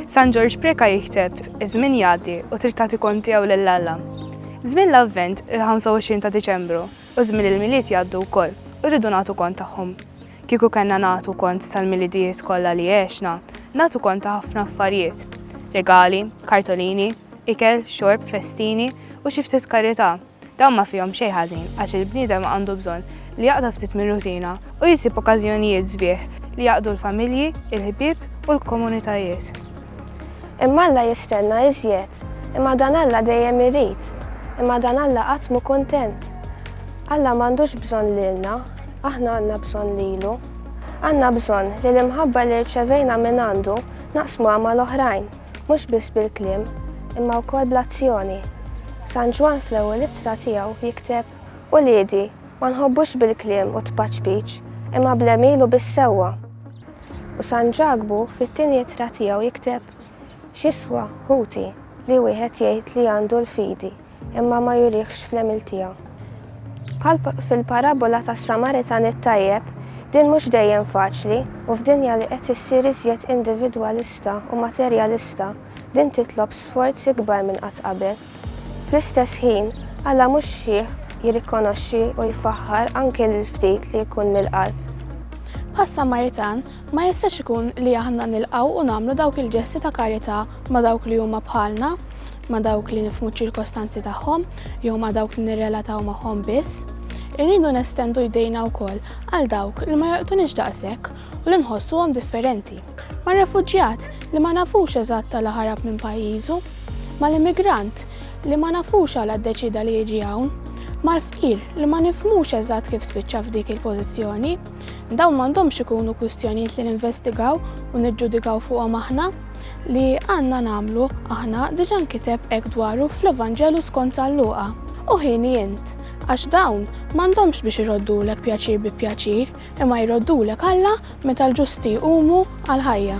San Ġorġ Preka jikteb, iż-żmien jgħaddi u trid tagħti kont tiegħu lil Alla. Żmien l-Avvent il-25 ta' Diċembru u żmien il-Milied jgħaddu wkoll u rridu nagħtu kont tagħhom. Kieku kellna nagħtu kont tal-milidijiet kollha li għexna, nagħtu kont ta' ħafna affarijiet. Regali, kartolini, ikel, xorb, festini u xi ftit karità. Dawn ma fihom xejn ħażin għax il-bniedem għandu bżonn li jaqta' ftit mir-rutina u jsib okkażjonijiet sbieħ li jgħaqqdu l-familji, il-ħbieb u l-komunitajiet. Imma Alla jistenna iżjed. Imma dan Alla dejjem irid. Imma dan Alla qatt mhu kuntent. Alla m'għandux bżonn lilna, aħna għandna bżonn lilu. Għandna bżonn li l-imħabba li rċevejna mingħandu naqsmuha mal-oħrajn. Mhux biss bil-kliem, imma wkoll bl-azzjoni. San Ġwann fl-ewwel ittra tiegħu jikteb, Uliedi, ma nħobbux bil-kliem u t-tpaċpiċ, imma bl-għemil u bis-sewwa. U San Ġakbu fit-tieni ittra tiegħu jikteb, X'jiswa, ħuti, li wieħed jgħid li għandu l-fidi? imma ma jurihx fl-għemil tiegħu. Bħal fil-parabola tas-Samaritan it-tajjeb, din mhux dejjem faċli u f'dinja li qed issir iżjed individwalista u materjalista, din titlob sforz ikbar minn qatt qabel. Fl-istess ħin, Alla mhux xħiħ jirrikonoxxi u jfaħħar anke lil ftit li jkun mill-qalb. Bħas-Samaritan, ma jistax ikun li aħna nilqgħu u nagħmlu dawk il-ġesti ta' karità ma' dawk li huma bħalna, ma' dawk li nifhmu ċ-ċirkostanzi tagħhom jew ma' dawk li nirrelataw magħhom biss, irridu nestendu jdejna wkoll għal dawk li ma jolqtunix daqshekk u li nħossuhom differenti, mar-refuġjat li ma nafux eżatt għala ħarab minn pajjiżu, mal-immigrant li ma nafux għala ddeċieda li jiġi hawn, mal-fqir li ma nifhmux eżatt kif spiċċa f'dik il-pożizzjoni. Dawn m'għandhomx ikunu kwistjonijiet li ninvestigaw u niġġudikaw fuqhom aħna. li għandna nagħmlu aħna diġà nkiteb hekk dwaru fl-Evanġelu skont San Luqa, u ħini int, għax dawn m'għandhomx biex iroddulek pjaċir bi pjaċir, imma jroddulek Alla meta l-ġusti jqumu għall-ħajja.